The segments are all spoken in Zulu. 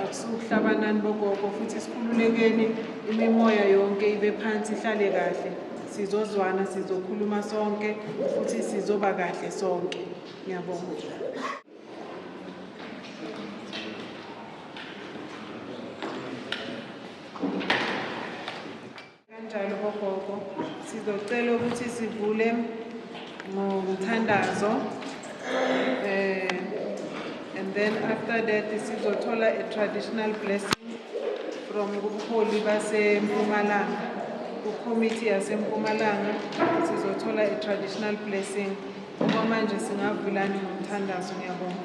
akusukuhlabanani bogogo futhi sikhululekeni imimoya yonke ibe phansi ihlale kahle sizozwana sizokhuluma sonke futhi sizoba kahle sonke ngiyabonga Kanjalo bogogo sizocela ukuthi sivule ngomthandazo eh and then after that sizothola a traditional blessing from kubuholi basempumalanga kucommittee yasempumalanga sizothola a traditional blessing ngoba manje singavulani ngomthandazo ngiyabonga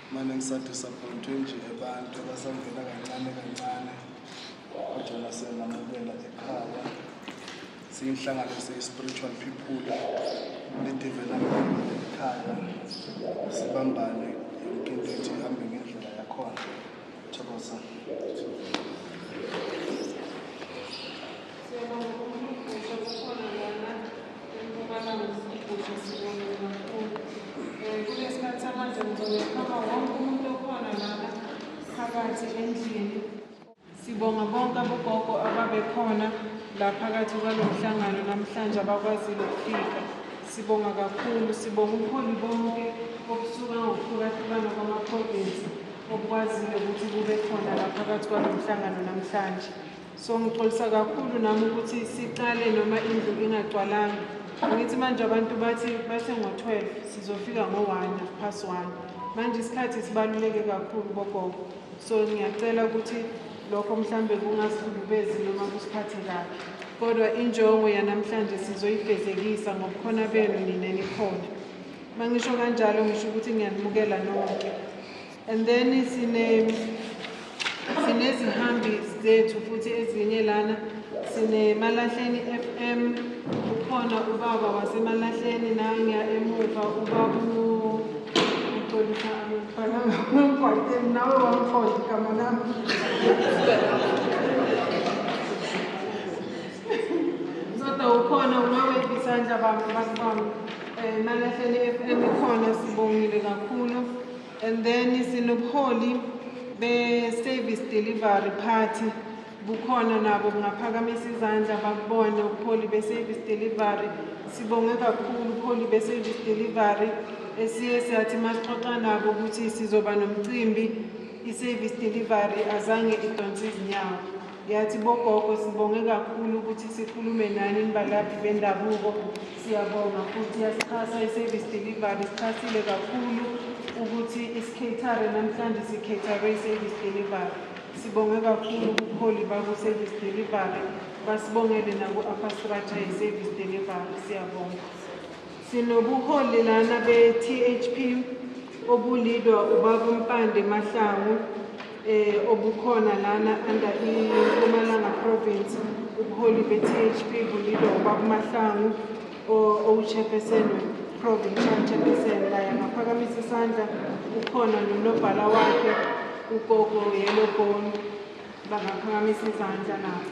Mane ngisa disappointwe nje abantu abasangena kancane kancane kodwa nasengamukela ekhaya siyinhlangano siyi-spiritual people lidevelopment ekhaya sibambane yonke into ethi ihambe ngendlela yakhona thokoza Sibonga bonke abogogo ababekhona la phakathi kwalo mhlangano namhlanje abakwazile ukufika. Sibonga kakhulu, sibonga ubuholi bonke obusuka ngokuhlukahlukana kwamaprovinsi obukwazile ukuthi kube khona la phakathi kwalo mhlangano namhlanje. So ngixolisa kakhulu nami ukuthi siqale noma indlu ingagcwalanga. Angithi manje abantu bathi bathe ngo-12 sizofika ngo-1 past 1. Manje isikhathi sibaluleke kakhulu bogogo. So ngiyacela ukuthi lokho mhlambe kungasilubezi noma kusiphathe kabi. Kodwa injongo yanamhlanje sizoyifezekisa ngobukhona benu nina nikhona. Mangisho kanjalo ngisho ukuthi ngiyanimukela nonke. and then sine sinezihambi zethu futhi ezinye lana sinemalahleni FM ukhona ubaba wasemalahleni naye ngiya emuva ubaba uxolisa abafana ngomgwaqeni nawe wamkhohle igama lami kodwa ukhona unawephi isandla bami bakubami um eh, malahleni FM ikhona sibongile kakhulu and then sinobuholi be-service delivery party bukhona nabo kungaphakamisa izandla bakubone ubuholi be-service delivery sibonge kakhulu ubuholi be-service delivery esiye siyathi masixoxa nabo ukuthi sizoba nomcimbi i-service delivery azange idonse izinyawo Ngiyathi bogogo sibonge kakhulu ukuthi sikhulume nani nibalaphi bendabuko siyabonga futhi yasixhasa i-service delivery sixhasile kakhulu ukuthi isikhethare namhlanje sikhethare i-service delivery sibonge kakhulu ubuholi baku-service delivery basibongele naku-afastrature i-service delivery siyabonga Sinobuholi lana be-THP obulidwa ubaba uMpande Mahlangu eh obukhona lana under iMpumalanga province ubuholi be-THP bulidwa ubaba uMahlangu owu-chairperson provincial chairperson laye angaphakamisa isandla ukhona nonobhala wakhe ugogo yellow bone bangaphakamisa izandla nabo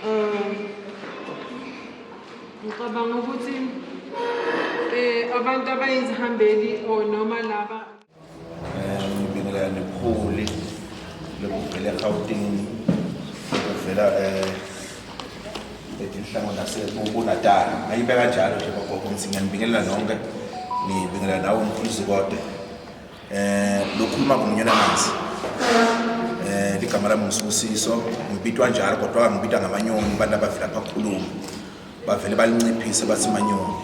um Ngicabanga ukuthi eh abantu abayizihambeli or noma laba eh ngibingelela nephuli lokuvela eGauteng ukuvela eh etinhlango nasebunatal ayibe kanjalo nje bagogo ngithi ngiyanibingelela nonke ngibingelela nawe mfundisi kodwa Eh lokhuluma ngomnyana manzi. Eh ligama lami ngisusiso, ngibitwa njalo kodwa ngibitwa ngamanyoni abantu abavela phakhuluma. Bavele balinciphise bathi manyoni.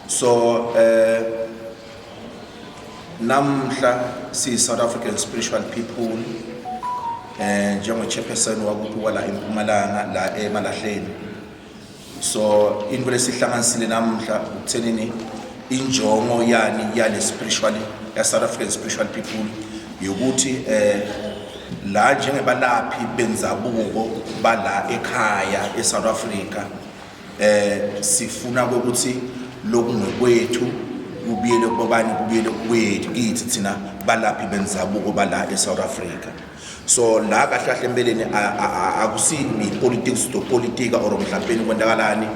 So eh namhla si South African spiritual people eh njengo chairperson wakuthi wala eMpumalanga la eMalahleni so into lesihlanganisile namuhla ukuthenini injongo yani yale spiritual ya South African spiritual people yokuthi eh la njengebalaphi benzabuko bala ekhaya eSouth Africa eh sifuna ukuthi lokungekwethu kubiyele kubani kubiyele kwethu kithi thina balaphi benzabuko bala eSouth Africa so la kahle kahle empeleni akusi i-politics sizopolitika or mhlampeni kwenzakalani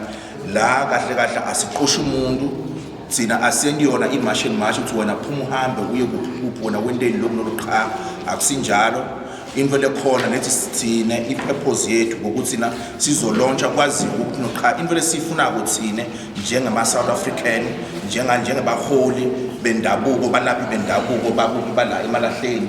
la kahle kahle asiqoshi umuntu thina asendi yona imashi mashi ukuthi wena phuma uhambe uye kuphi wena wenteni lokhu noluqha akusinjalo into lekhona nethi sithina ipurpose yethu ngokuthi na sizolontsha kwaziwa ukuthi noqha into lesifuna kuthina njengama South African njenga njengebaholi bendabuko balaphi bendabuko bakuthi bala emalahleni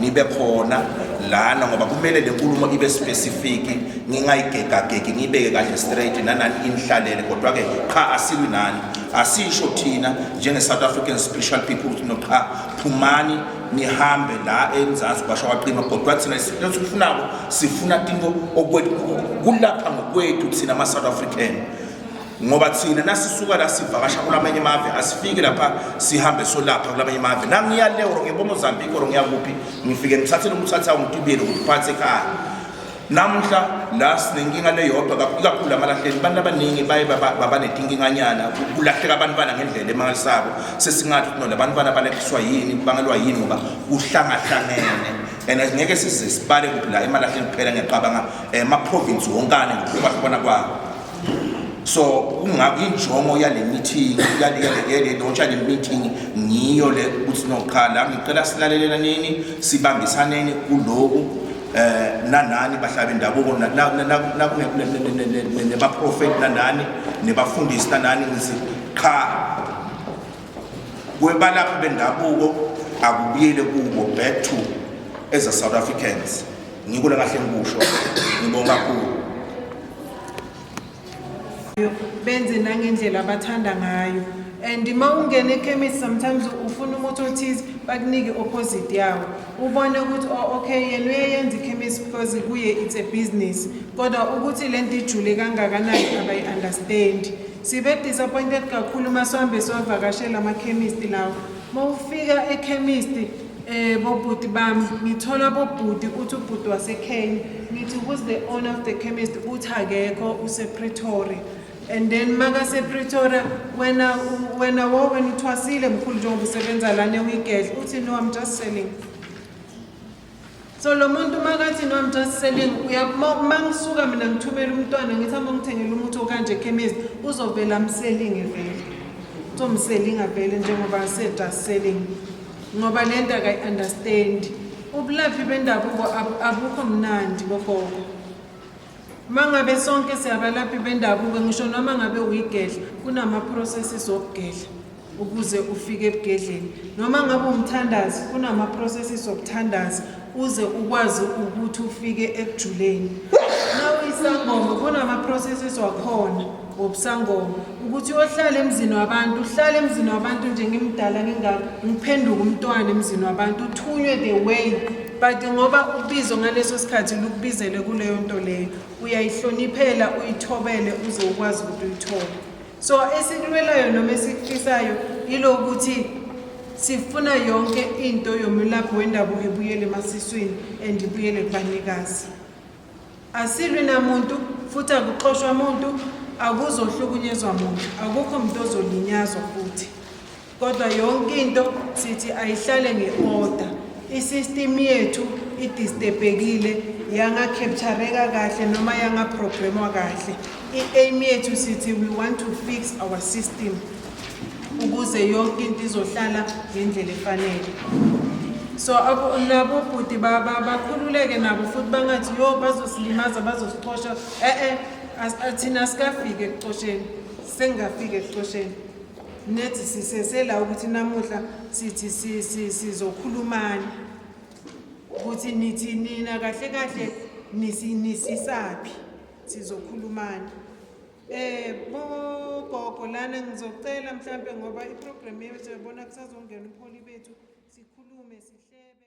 nibe khona lana ngoba kumele le nkulumo ibe specific ngingayigegagegi ngiyibeke kahle straight nanani inihlalele kodwa-ke qha asilwi nani asisho thina njenge-south african special people ukuthi no qha phumani nihambe la emzansi kwasho kwaqima kodwa thina isilo sikufunako sifuna tinto kulapha ngokwethu thina ama-south african ngoba thina nasisuka la sivakasha kulamanye amave asifiki lapha sihambe solapha kulamanye amave nangiya le or ngiya komozambique or ngiya kuphi ngifike ngithathe lo muthathe awungitibeli ngiphathe ekhaya namuhla la sinenkinga leyodwa kakhulu amalahleni abantu abaningi baye babanetinkinganyana kulahleka abantwana ngendlela emangalisako sesingathi ukuthi no labantwana balehliswa yini bangelwa yini ngoba kuhlangahlangene and ngeke size sibale kuphi la emalahleni kuphela ngiyacabanga um eh, ama-province wonkane ngokuhlukwahlukwana kwawo so kungakho injongo yale meeting yale launch yale meeting ngiyo le ukuthi noqala ngicela silalelela nini sibambisaneni kuloku eh nanani bahlaba bendabuko nebaprofeti nanani nebafundisi nanani ngithi qha kwebalaphi bendabuko akubuyele kubo back to as a South Africans ngikule kahle ngikusho ngibonga kakhulu benze nangendlela abathanda ngayo and uma ungena ekhemisi sometimes ufuna umuthi othize bakunike opposite yawo ubone ukuthi oh, okay yena uyeyenza ikhemisi because kuye it's a business kodwa ukuthi le nto ijule kangakanani abayi-understandi sibe disappointed kakhulu uma sihambe siwavakashela amakhemisti lawo uma ufika ekhemisti Eh bobhuti bami ngithola bobhuti uthi ubhuti waseKenya ngithi who's the owner of the chemist uthi akekho usePretoria and then makasePretoria wena u- wena wo wena uthwasile mkhulu njengoba usebenza lana uyigedla uthi no I'm just selling So lo muntu makathi no I'm just selling uyamangisuka mina ngithumela umntwana ngithi hamba ngithengela umuthi okanje ekhemisi uzovela amselinge vele uzomselinga vele njengoba said just selling ngoba le nto akayi-understand ubulaphi bendabuko abukho mnandi bogogo Uma ngabe sonke siyabalaphi bendabuko ngisho noma ngabe uyigedla kunama-processes okugedla ukuze ufike ebugedleni noma ngabe umthandazi kunama-processes okuthandaza uze ukwazi ukuthi ufike ekujuleni na uyisangoma kunama-processes wakhona wobusangoma ukuthi uyohlala emzini wabantu uhlale emzini wabantu nje ngimdala ngingako ngiphenduke umntwana emzini wabantu uthunywe the way but ngoba ubizo ngaleso sikhathi lukubizele kuleyo nto leyo uyayihloniphela uyithobele uze ukwazi ukuthi uyithole so esikulwelayo noma esikufisayo yilokuthi sifuna yonke into yomelaphi wendabuko ebuyele emasiswini and ibuyele kubanikazi Asilwi namuntu futhi akuxoshwa muntu, akuzohlukunyezwa muntu, akukho muntu ozolinyazwa futhi. Kodwa yonke into sithi ayihlale nge-order. I-system yethu idistebhekile yangacaptureka kahle noma yangaprogramwa kahle. I-aim yethu sithi we want to fix our system. ukuze yonke into izohlala ngendlela efanele so nabo bhuti bakhululeke nabo futhi bangathi yo bazosilimaza bazosixosha e-e athina sikafike ekuxosheni sengingafike ekuxosheni nethi sisesela ukuthi namuhla sithi sizokhulumani ukuthi nithi nina kahle kahle nisisaphi sizokhulumani Eh bo gogo lana ngizocela mhlambe ngoba iprogram yethu yabona kusazongena umholi bethu sikhulume sihlebe